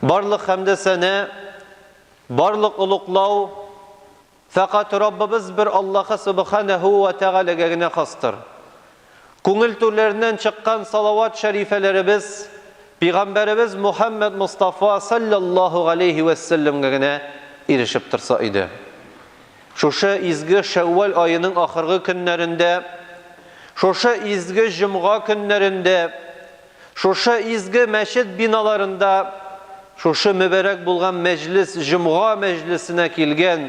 Барлык хәмдә сәнә, барлык олуглау фәкать Раббыбыз бер Аллаһы Субханәһу вә Тәгаләгә генә хастыр. Күңел түрләреннән чыккан салават шәрифәләребез Пигамбәребез Мухәммәд Мостафа салләллаһу галәйһи вә сәлләмгә генә ирешеп торса иде. Шушы изге Шәүвәл аеның ахыргы көннәрендә, шушы изге җомга көннәрендә, Шушы изге мәчет биналарында шушы мөбарәк булган мәҗлес җомга мәҗлесенә килгән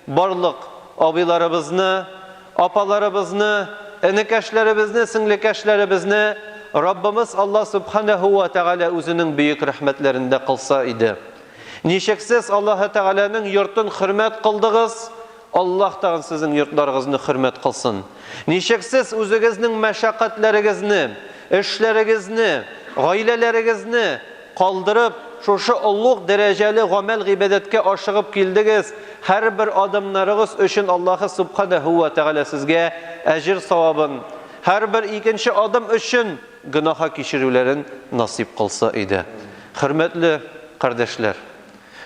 барлык абыйларыбызны, апаларыбызны, энекәшләребезне, сеңлекәшләребезне Раббымыз Алла Сүбхәнәһү вә Тәгалә үзенең бөек рәхмәтләрендә кылса иде. Ничексез Аллаһы Тәгаләнең йортын хөрмәт кылдыгыз, Аллаһ тагын сезнең йортларыгызны хөрмәт кылсын! Ничек сез үзегезнең мәшәкатьләрегезне, эшләрегезне, гаиләләрегезне калдырып, шушы олуг дәрәҗәле гамәл-гыйбадәткә ашыгып килдегез, һәрбер адымнарыгыз өчен Аллаһы Сүбхәнәһү вә Тәгалә сезгә әҗер-савабын, һәрбер икенче адым өчен гөнаһа кичерүләрен насыйп кылса иде. Хөрмәтле кардәшләр!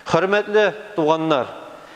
Хөрмәтле туганнар!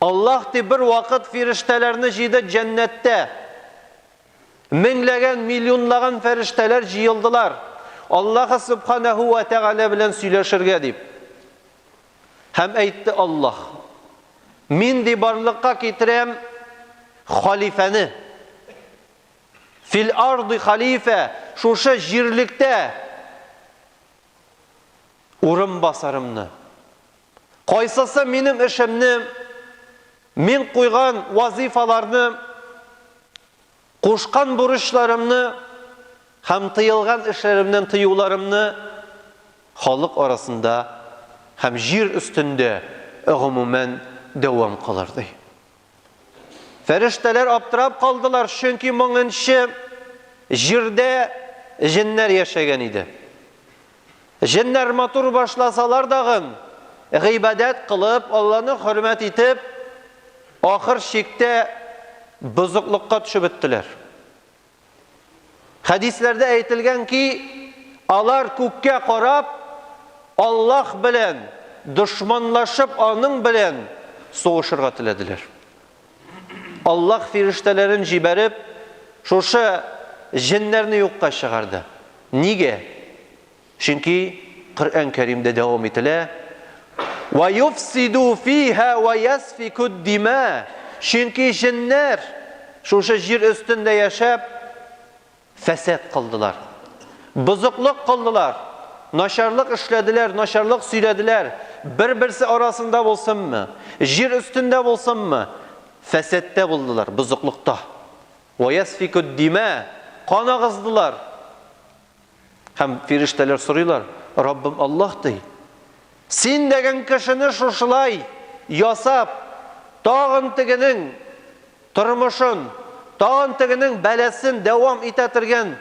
Аллаһ ди, бервакыт фирештәләрне җыйды җәннәттә. Меңләгән, миллионлаган фәрештәләр җыелдылар. Аллаһы Субханәһу вә Тәгалә белән сөйләшергә дип. Һәм әйтте Аллаһ, мин ди барлыкка китерәм халифәне. Фил арды халифә, шушы җирлектә урын басарымны. Кайсысы минем эшемне, мин куйган вазыйфаларны, кушкан бурычларымны һәм тыелган эшләремнән тыюларымны халык арасында һәм җир өстендә гомумән дәвам кылыр, ди. Фәрештәләр аптырап калдылар, чөнки моңынчы җирдә җеннәр яшәгән иде. Җеннәр матур башласалар дагын, гыйбадәт кылып, Алланы хөрмәт итеп, ахыр чиктә бозыклыкка төшеп беттеләр. Хәдисләрдә әйтелгән ки, алар күккә карап, Аллаһ белән дошманлашып, аның белән сугышырга теләделәр. Аллаһ фирештәләрен җибәреп, шушы җеннәрне юкка чыгарды. Нигә? Чөнки Коръән Кәримдә дәвам ителә, Ва юфсиду фиһа ва ясфику д-дима, чөнки җеннәр шушы җир өстендә яшәп, фәсад кылдылар, бозыклык кылдылар, начарлык эшләделәр, начарлык сөйләделәр, бер-берсе арасында булсынмы, җир өстендә булсынмы, фәсадта булдылар, бозыклыкта. Ва ясфику д-дима, кан агыздылар. Һәм фирештәләр сорыйлар, Раббым Аллаһ, ди, Син дигән кешене шушылай ясап, тагын тегенең тормышын, тагын тегенең бәласен дәвам итә тергән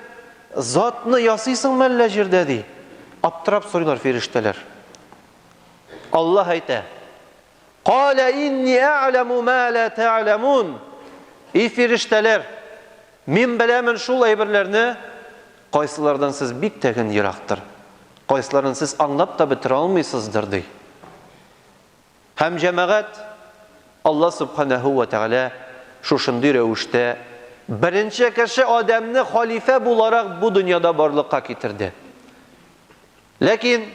затны ясыйсың мәллә җирдә, ди. Аптырап сорыйлар фирештәләр. Аллаһ әйтә, Калә инни ә'ләмү мә лә тә'ләмүн, И фирештәләр, Мин беләмен шул әйберләрне, кайсылардан сез бик тә ген ерактыр, кайсыларын сез аңлап та бетерә алмыйсыздыр, ди. Һәм җәмәгать, Алла Сүбхәнәһү вә Тәгалә шушындый рәвештә беренче кеше Адәмне халифә буларак бу дөньяда барлыкка китерде. Ләкин.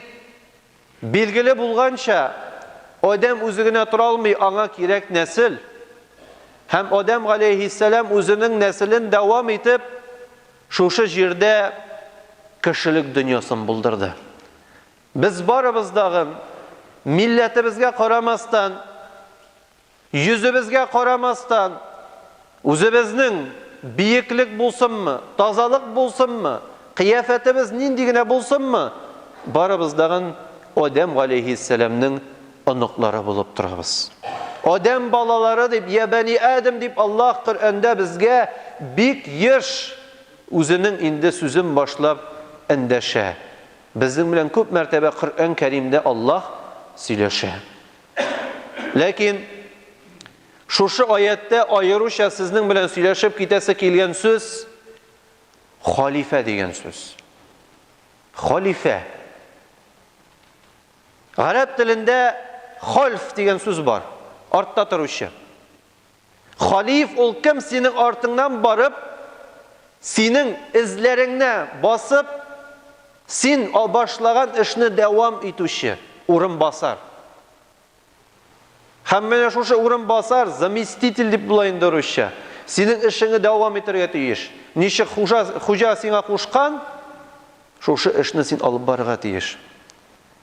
Билгеле булганча, адәм үзе генә тора алмый, аңа кирәк нәсел. Һәм Адәм галәйһиссәлам үзенең нәселен дәвам итеп, шушы җирдә кешелек дөньясын булдырды. Без барыбыз дагын, милләтебезгә карамастан, Йөзебезгә карамастан, үзебезнең биеклек булсынмы, тазалык булсынмы, кыяфәтебез нинди генә булсынмы, барыбыз дагын Адәм галәйһиссәламнең оныклары булып торабыз. Адәм балалары дип, я бәни Адәм дип Аллаһ Коръәндә безгә бик еш Үзенең инде сүзен башлап эндәшә. Безнең белән күп мәртәбә Коръән Кәримдә Аллаһ сөйләшә. Ләкин шушы аяттә аеруча сезнең белән сөйләшеп китәсе килгән сүз халифә дигән сүз. Халифә. Гарәп телендә хольф дигән сүз бар. Артта торучы. Халиф ул кем синең артыңнан барып, синең эзләреңне басып, син башлаган эшне дәвам итүче урынбасар. Һәм менә шушы урынбасар, заместитель дип була инде русча, синең эшеңне дәвам итәргә тиеш. Ничек хуҗа, хуҗа сиңа кушкан, шушы эшне син алып барырга тиеш.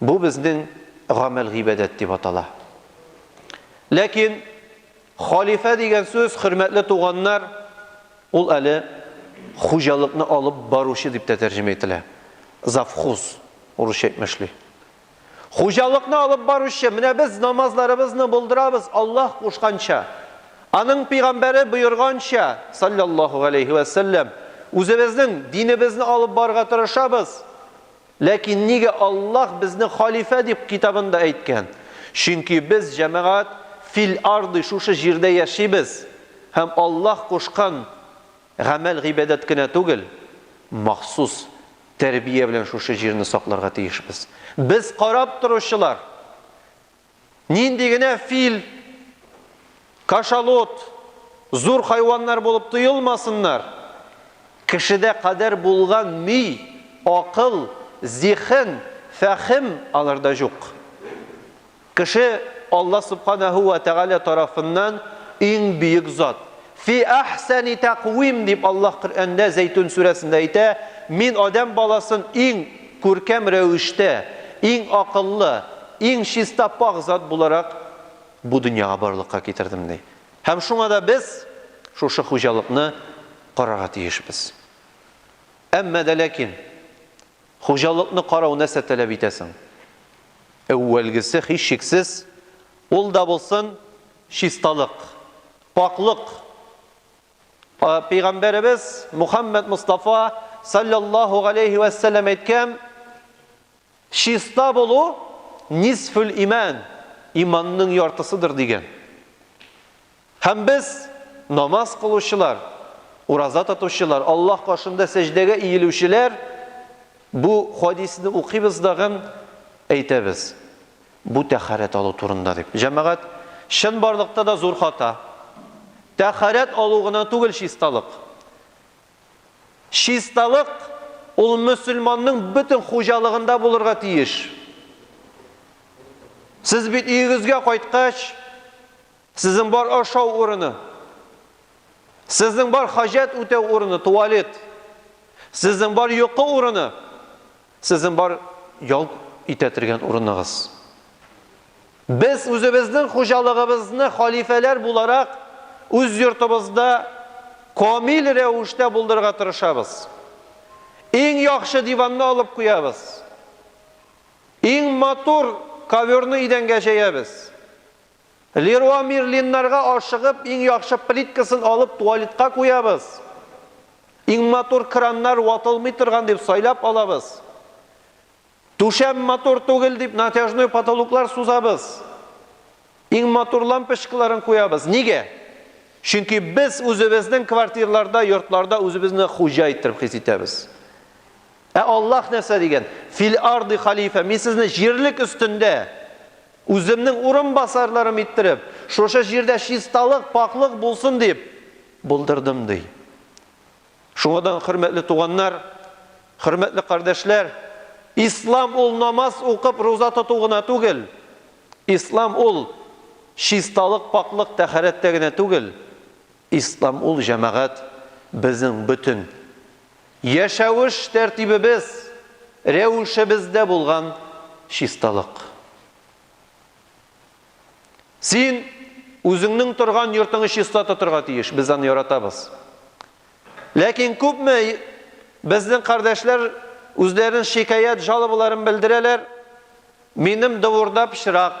Бу безнең гамәл гыйбадәт дип атала. Ләкин халифә дигән сүз, хөрмәтле туганнар, ул әле хуҗалыкны алып баручы дип тә тәрҗемә ителә. Завхуз урысча әйтмешли. Хуҗалыкны алып баручы, менә без намазларыбызны булдырабыз Аллаһ кушканча. Аның пигамбәре боерганча, саллаллаһу галәйһи вә сәлләм, үзебезнең динебезне алып барырга тырышабыз. Ләкин нигә Аллаһ безне халифә дип китабында әйткән? Чөнки без, җәмәгать, фил арди, шушы җирдә яшибез һәм Аллаһ кушкан гамәл-гыйбадәт кенә түгел, махсус тәрбия белән шушы җирне сакларга тиешбез. Без карап торучылар, Нинди генә фил, кашалот, зур хайваннар булып тоелмасыннар, кешедә кадәр булган ми, акыл, зиһен, фәһем аларда җук. Кеше Алла Субханәһү вә Тәгалә тарафыннан иң бөек зат, Фи әхсәни тәкъвим, дип Аллаһ Коръәндә Зәйтүн сүрәсендә әйтә, Мин адәм баласын иң күркәм рәвештә, иң акыллы, иң чиста пакь зат буларак бу дөньяга барлыкка китердем, ди. Һәм шуңа да без шушы хуҗалыкны карарга тиешбез. Әмма дә ләкин, хуҗалыкны карау нәрсә таләп итә соң? Әүвәлгесе, һичшиксез, ул да булсын, Чисталык, пакълык Пәйгамбәребез Мухаммәд Мостафа салләллаһу галәйһи вә сәлләм әйткән, Чиста булу, нисфүл имән, иманның яртысыдыр, дигән. Һәм без, намаз кылучылар, ураза тотучылар, Аллаһ каршында сәҗдәгә иелүчеләр, бу хадисне укыйбыз да гын әйтәбез. Бу тәһарәт алу турында дип. Җәмәгать, чынбарлыкта да зур хата. Тәһарәт алу гына түгел чисталык. Чисталык, ул мөселманның бөтен хуҗалыгында булырга тиеш. Сез бит өегезгә кайткач, сезнең бар ашау урыны, сезнең бар хаҗәт үтәү урыны, туалет, сезнең бар йокы урыны, Сезнең бар ял итә тергән урыныгыз. Без үзебезнең хуҗалыгыбызны халифәләр буларак үз йортыбызда камил рәвештә булдырырга тырышабыз. Иң яхшы диванны алып куябыз. Иң матур коверны идәнгә җәябез. Леруа Мерлиннарга ашыгып, иң яхшы плиткасын алып туалетка куябыз. Иң матур краннар ватылмый торган дип сайлап алабыз. Түшәм матур түгел дип натяжной потолоклар сузабыз. Иң матур лампочкаларын куябыз. Нигә? Чөнки без үзебезнең квартирларда, йортларда үзебезне хуҗа иттереп хис итәбез. Ә Аллаһ нәрсә дигән? Фил арди халифә, мин сезне җирлек өстендә Үземнең урынбасарларым иттереп, шушы җирдә чисталык, пакълык булсын дип булдырдым, ди. Шуңа да, хөрмәтле туганнар, хөрмәтле кардәшләр, Ислам ул намаз укып, руза тоту гына түгел. Ислам ул чисталык, пакълык, тәһарәттә генә түгел. Ислам ул җәмәгать, безнең бөтен яшәвеш тәртибебез, рәвешебездә булган чисталык. Син үзеңнең торган йортыңны чиста тотырга тиеш, без аны яратабыз. Ләкин күпме безнең кардәшләр үзләренең шикаять, жалобаларын белдерәләр, минем дворда пычрак,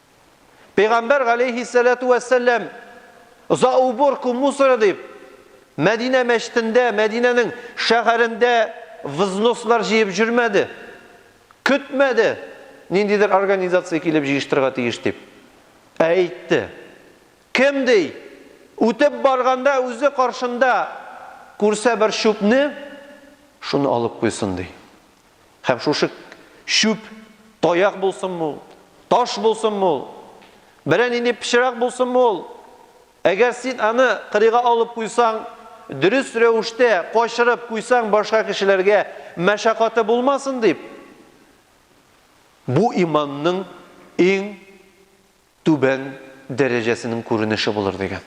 Пәйгамбәр галәйһиссәләтү вәссәлам за уборку мусора дип Мәдинә мәчетендә, Мәдинәнең шәһәрендә взнослар җыеп җөрмәде. Көтмәде, ниндидер организация килеп җыештырырга тиеш дип. Ә әйтте. Кем ди, үтеп барганда үзе каршында күрсә бер чүпне, шуны алып куйсын ди. Һәм шушы чүп таяк булсынмы ул, таш булсынмы ул, берәр нинди пычрак булсынмы ул, әгәр син аны кырыйга алып куйсаң, дөрес рәвештә качырып куйсаң, башка кешеләргә мәшәкате булмасын дип, бу иманның иң түбән дәрәҗәсенең күренеше булыр дигән.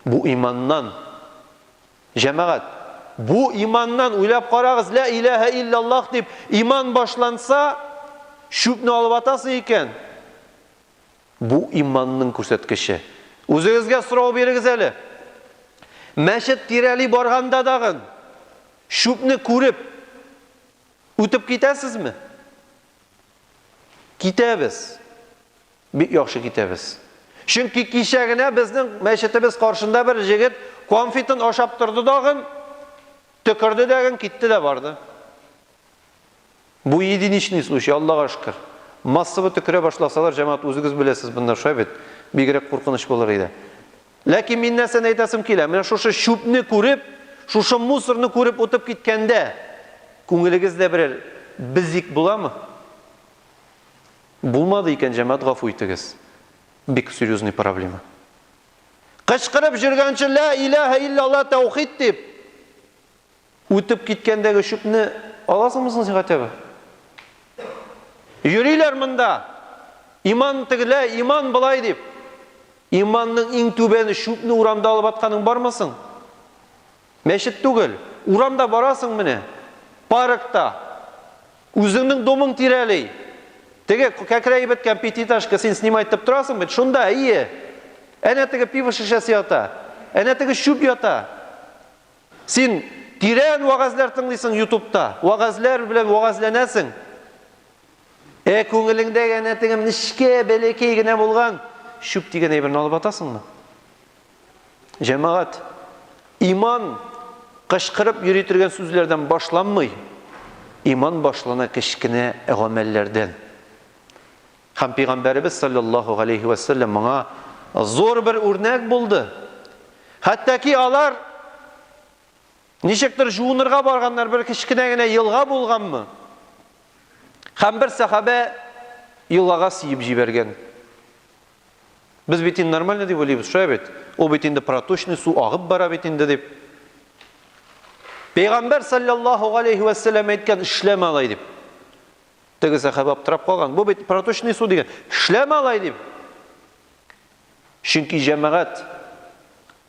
Бу иманнан, җәмәгать, бу иманнан, уйлап карагыз, лә иләһә илляллаһ дип иман башланса, чүпне алып атасы икән. Бу иманның күрсәткече. Үзегезгә сорау бирегез әле. Мәчет тирәли барганда дагын чүпне күреп үтеп китәсезме? Китәбез. Бик яхшы китәбез. Чөнки кичә генә безнең мәчетебез каршында бер җегет конфитын ашап торды дагын, төкерде дәген, китте дә барды. Бу единичный случай, Аллага шөкер. Массовый төкерә башласалар, җәмәгать, үзегез беләсез, монда шулай бит, бигрәк куркыныч булыр иде. Ләкин мин нәрсәне әйтәсем килә, менә шушы чүпне күреп, шушы мусорны күреп утып киткәндә, күңелегездә берәр бзик буламы? Булмады икән, җәмәгать, гафу итегез. Бик серьезный проблема. Кычкырып җөргәнче, лә иләһә иллалла тәүхид дип, Үтеп киткәндәге чүпне аласыңмы соң син хотя бы? Йөриләр монда, иман тегеләй, иман болай дип. Иманның иң түбәне чүпне урамда алып атканың бармы соң? Мәчет түгел, урамда барасың менә, паркта, үзеңнең домың тирәли. Теге кәкрәеп беткән пятиэтажка син снимать итеп торасың бит, шунда, әйе. Әнә теге пиво шешәсе ята, әнә теге чүп ята. Син тирән вәгазьләр тыңлыйсың ютубта, вәгазьләр белән вәгазьләнәсең. Ә күңелеңдә янә теге нечкә, бәләкәй генә булган чүп дигән әйберне алып атасыңмы? Җәмәгать, иман кычкырып йөри торган сүзләрдән башланмый. Иман башлана кечкенә гамәлләрдән. Һәм Пәйгамбәребез салләллаһу галәйһи вә сәлләм моңа зур бер үрнәк булды. Хәтта ки алар ничектер жуынырга барганнар, бер кечкенә генә елга булганмы? Һәм бер сәхабә елгага сиеп җибәргән. Без бит инде нормально дип уйлыйбыз, шулай бит? Ул бит инде проточный су агып бара бит инде дип. Пәйгамбәр салләллаһу галәйһи вә сәлләм әйткән, эшләмә алай дип. Теге сәхабә аптырап калган. Бу бит проточный су дигән. Эшләмә алай дип. Чөнки җәмәгать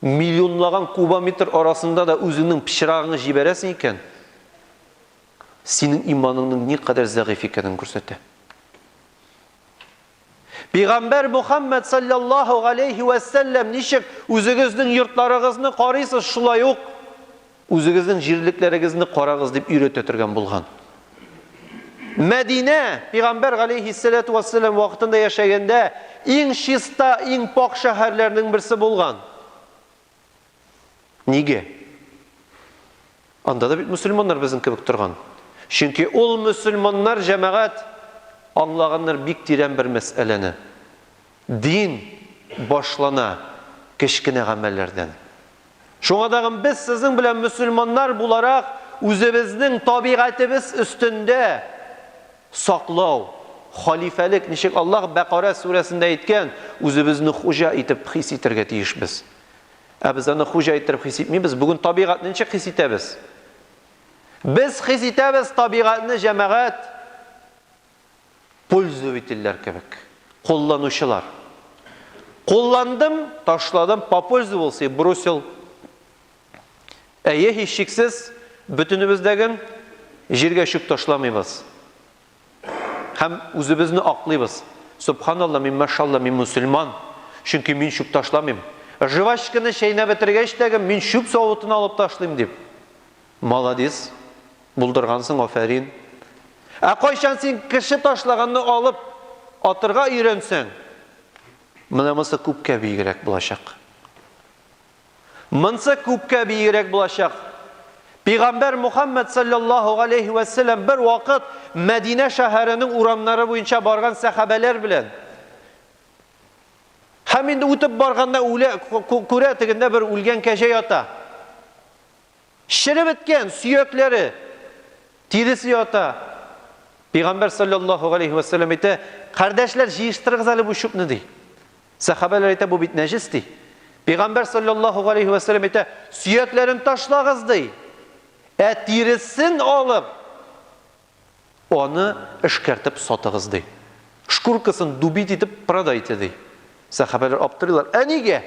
миллионлаган кубометр арасында да үзеңнең пычрагыңны җибәрәсең икән, синең иманыңның никадәр зәгыйфь икәнен күрсәтә. Пигамбәр Мухаммәд салләллаһу галәйһи вә сәлләм ничек үзегезнең йортларыгызны карыйсыз, шулай ук үзегезнең җирлекләрегезне карагыз дип өйрәтә торган булган. Мәдинә пигамбәр галәйһиссәләту вә сәлләм вакытында яшәгәндә иң чиста, иң пакь шәһәрләрнең берсе булган. Нигә? Анда да бит мөселманнар безнең кебек торган. Чөнки ул мөселманнар җәмәгать аңлаганнар бик тирән бер мәсьәләне. Дин башлана кечкенә гамәлләрдән. Шуңа тагын без сезнең белән мөселманнар буларак үзебезнең табигатебез өстендә Саклау, халифәлек, ничек Аллаһ Бәкарә сүрәсендә әйткән, үзебезне хуҗа итеп хис итәргә тиешбез. Ә без аны хуҗа иттереп хис итмибез. Бүген табигатьне ничек хис итәбез? Без хис итәбез табигатьне җәмәгать пользовительләр кебек, кулланучылар. Кулландым, ташладым, попользовался и бросил. Әйе, һичшиксез, бөтенебездәген җиргә чүп ташламыйбыз һәм үзебезне аклыйбыз. Сөбханалла, мин, машалла, мин мөселман, чөнки мин чүп ташламыйм. Жвачканы чәйнәп бетергәч тәгем мин чүп савытына алып ташлыйм дип. Маладис, булдыргансың, афәрин. Ә кайчан син кеше ташлаганны алып атырга өйрәнсәң, монысы күпкә бигрәк булачак. Монсы күпкә биегрәк булачак. Пигамбәр Мухаммәд салләллаһу галәйһи вә сәлләм бер вакыт Мәдинә шәһәренең урамнары буенча барган сәхабәләр белән Һәм инде үтеп барганда үлә күрә тегендә бер үлгән кәҗә ята. Череп беткән сөякләре, тиресе ята. Пәйгамбәр салләллаһу галәйһи вә сәлләм әйтә, Кардәшләр, җыештырыгыз әле бу чүпне, ди. Сәхабәләр әйтә, Бу бит нәҗес, ди. Пәйгамбәр салләллаһу галәйһи вә сәлләм әйтә, Сөякләрен ташлагыз, ди. Ә тиресен алып, Аны эшкәртеп сатыгыз, ди. Шкуркасын дубить итеп продайте, ди. Сәхабәләр аптырыйлар, Ә нигә?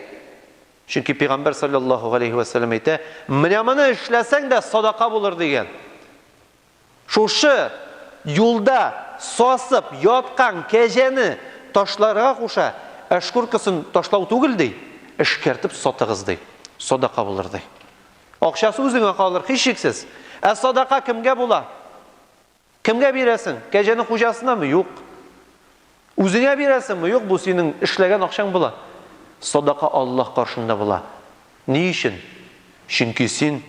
Чөнки Пәйгамбәр салләллаһу галәйһи вә сәлләм әйтә, Менә моны эшләсәң дә садака булыр, дигән. Шушы юлда сасып яткан кәҗәне ташларга куша, ә шкуркасын ташлау түгел, ди, эшкәртеп сатыгыз, ди. Садака булыр, ди. Акчасы үзеңә калыр, һичшиксез. Ә садака кемгә була? Кемгә бирәсең? Кәҗәнең хуҗасынамы? Юк. Үзеңә бирәсеңме? Юк, бу синең эшләгән акчаң була. Садака Аллаһ каршында була. Ни өчен? Чөнки син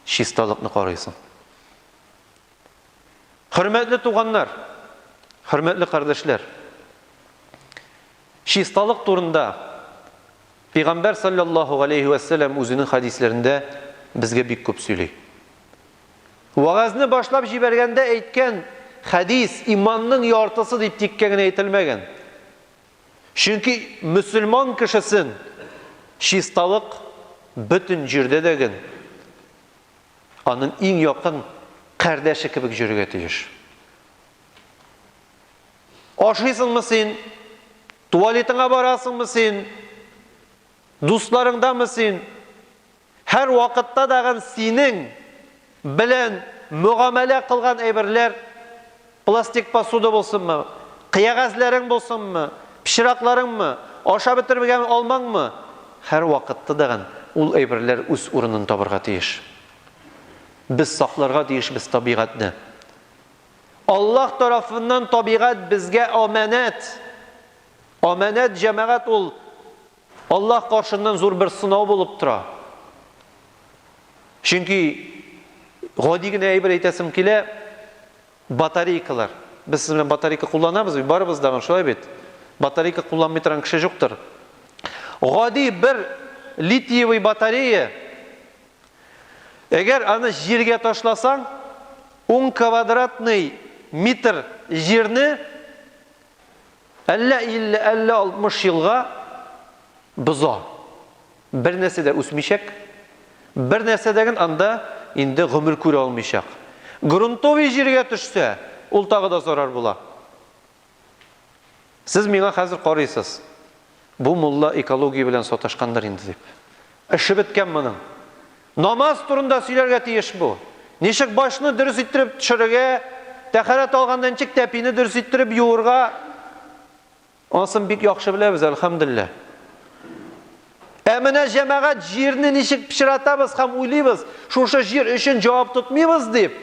чисталыкны карыйсың. Хөрмәтле туганнар, хөрмәтле кардәшләр! Чисталык турында Пәйгамбәр салләллаһу галәйһи вә сәлләм үзенең хәдисләрендә безгә бик күп сөйли. Вәгазьне башлап җибәргәндә әйткән хәдис иманның яртысы дип тиккә генә әйтелмәгән. Чөнки мөселман кешесен чисталык бөтен җирдә дә ген аның иң якын кардәше кебек җөрергә тиеш. Ашыйсыңмы син? Туалетыңа барасыңмы син? Дусларыңдамы син? Һәр вакытта дагын синең белән мөгамәлә кылган әйберләр, пластик посуда булсынмы, кыягәзләрең булсынмы, пычракларыңмы, ашап бетермәгән алмаңмы, һәр вакытта дагын ул әйберләр үз урынын табырга тиеш. Без сакларга тиешбез табигатьне. Аллаһ тарафыннан табигать безгә аманәт. Аманәт, җәмәгать, ул Аллаһ каршыннан зур бер сынау булып тора. Чөнки гади генә әйбер әйтәсем килә, батарейкалар. Без сез белән батарейка кулланабыз бит, барыбыз да шулай бит. Батарейка кулланмый торган кеше юктыр. Гади бер литиевый батарея Әгәр аны җиргә ташласаң, ун квадратный метр җирне әллә 50, әллә 60 елга боза. Бернәрсә дә үсмичәк, бернәрсә дә анда инде гомер күрә алмыйчак. Грунтовый җиргә төшсә, ул тагы да зарар була. Сез миңа хәзер карыйсыз, бу мулла экология белән саташкандыр инде дип. Эше беткән моның. Намаз турында сөйләргә тиеш бу. Ничек башны дөрес иттереп төшерергә, тәхәрәт алганда ничек тәпине дөрес иттереп юырга, анысын бик яхшы беләбез, әлхәмдуллиһ. Ә менә җәмәгать җирне ничек пычратабыз һәм уйлыйбыз, шушы җир өчен җавап тотмыйбыз дип,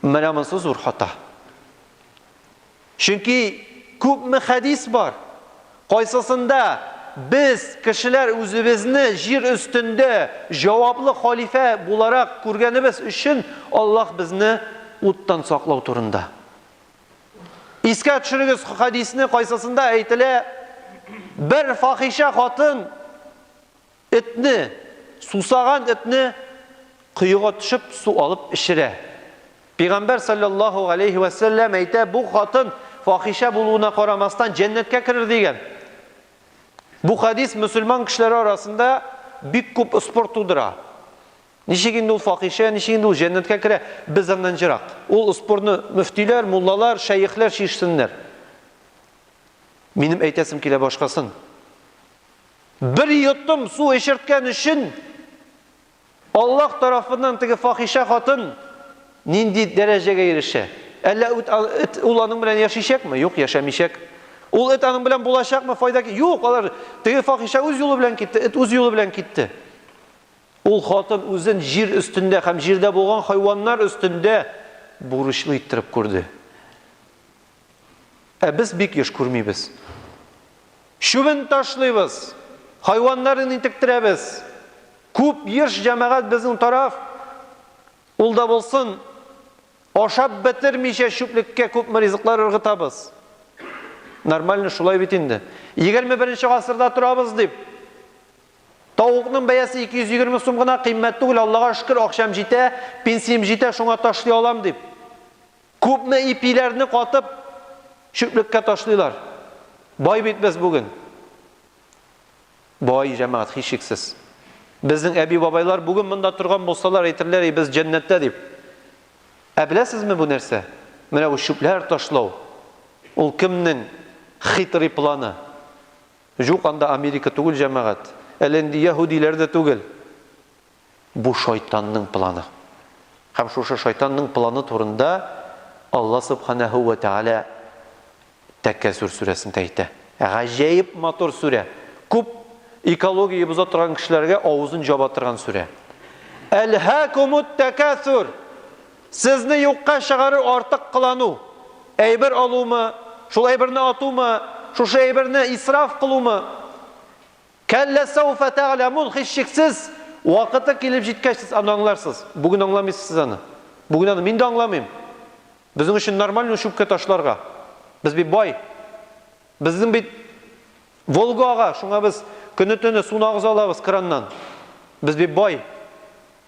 менә монысы зур хата. Чөнки күпме хәдис бар, кайсысында без, кешеләр үзебезне җир өстендә җаваплы халифә буларак күргәнебез өчен Аллаһ безне уттан саклау турында. Искә төшерегез хәдисне, кайсысында әйтелә, бер фахишә хатын Этне, сусаган этне коега төшеп су алып эчерә. Пигамбәр салләллаһу галәйһи вә сәлләм әйтә, бу хатын фахишә булуына карамастан җәннәткә керер дигән. Бу хәдис мөселман кешеләре арасында бик күп спор тудыра. Ничек инде ул фахишә, ничек инде ул җәннәткә керә, без аннан җырак. Ул спорны мөфтиләр, муллалар, шәехләр чишсеннәр. Минем әйтәсем килә башкасын. Бер йотым су эчерткән өчен Аллаһ тарафыннан теге фахишә хатын нинди дәрәҗәгә ирешә? Әллә эт ул аның белән яшичәкме? Юк, яшәмичәк. Ул эт аның белән булачакмы? Файда юк, алар теге фахишә үз юлы белән китте, эт үз юлы белән китте. Ул хатын үзен җир өстендә һәм җирдә булган хайваннар өстендә бурычлы иттереп күрде. Ә без бик еш күрмибез. Чүбен ташлыйбыз, хайваннарын интектерәбез. Күп еш җәмәгать безнең тараф, ул да булсын, ашап бетермичә чүплеккә күпме ризыклар ыргытабыз. Нормально шулай бит инде. Егерме беренче гасырда торабыз, дип. Тавыкның бәясе 220 сум гына, кыйммәт түгел, Аллага шөкер, акчам җитә, пенсиям җитә, шуңа ташлый алам, дип. Күпме ипиләрне катып, чүплеккә ташлыйлар. Бай бит без бүген. Бай, җәмәгать, һичшиксез. Безнең әби-бабайлар бүген монда торган булсалар, әйтерләр иде, без җәннәттә дип. Ә беләсезме бу нәрсә? Менә бу чүпләр ташлау, ул кемнең хитрый планы? Җук, анда Америка түгел, җәмәгать. Әле инде яһүдиләр дә түгел. Бу шайтанның планы. Һәм шушы шайтанның планы турында Алла Субханәһү вә Тәгалә Тәкәсүр сүрәсендә әйтә. Гаҗәеп матур сүрә. Күп экология боза торган кешеләргә авызын җаба торган сүрә. Әлһәкумут тәкәсүр! Сезне юкка чыгарыр артык кылану. Әйбер алумы, шул әйберне атумы, шушы әйберне исраф кылумы? Кәллә сәүфә тәгьләмун Һичшиксез, вакыты килеп җиткәч, сез аны аңларсыз. Бүген аңламыйсыз сез аны. Бүген аны мин дә аңламыйм. Безнең өчен нормальмы чүпкә ташларга? Без бит бай. Безнең бит Волга ага, шуңа без көне-төне суны агыза алабыз краннан. Без бит бай.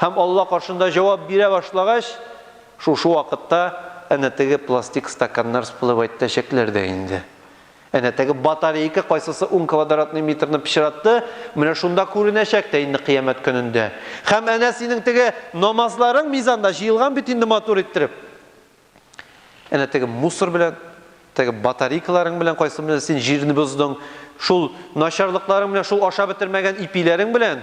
Һәм Алла каршында җавап бирә башлагач, шушы вакытта әнә теге пластик стаканнар всплывайтәчәкләр дә инде. Әнә теге батарейка кайсысы ун квадратный метрны пычратты, менә шунда күренәчәк тә инде кыямәт көнендә. Һәм әнә синең теге намазларың мизанда җыелган бит инде матур иттереп. Әнә теге мусор белән, теге батарейкаларың белән кайсы белән син җирне боздың, шул начарлыкларың белән, шул ашап бетермәгән ипиләрең белән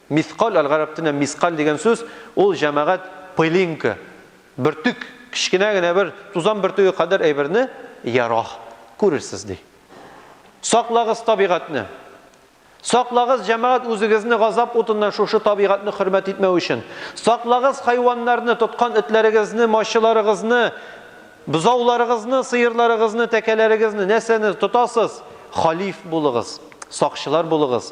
Мискаль аль-гарәп телендә мискаль дигән сүз, ул җәмәгать пылинка, бөртек, кечкенә генә бер тузан бөртеге кадәр әйберне, ярох, күрерсез, ди. Саклагыз табигатьне! Саклагыз, җәмәгать, үзегезне газап утыннан шушы табигатьне хөрмәт итмәү өчен! Саклагыз хайваннарны, тоткан этләрегезне, мачыларыгызны, бозауларыгызны, сыерларыгызны, тәкәләрегезне, нәрсәне тотасыз, халиф булыгыз, сакчылар булыгыз!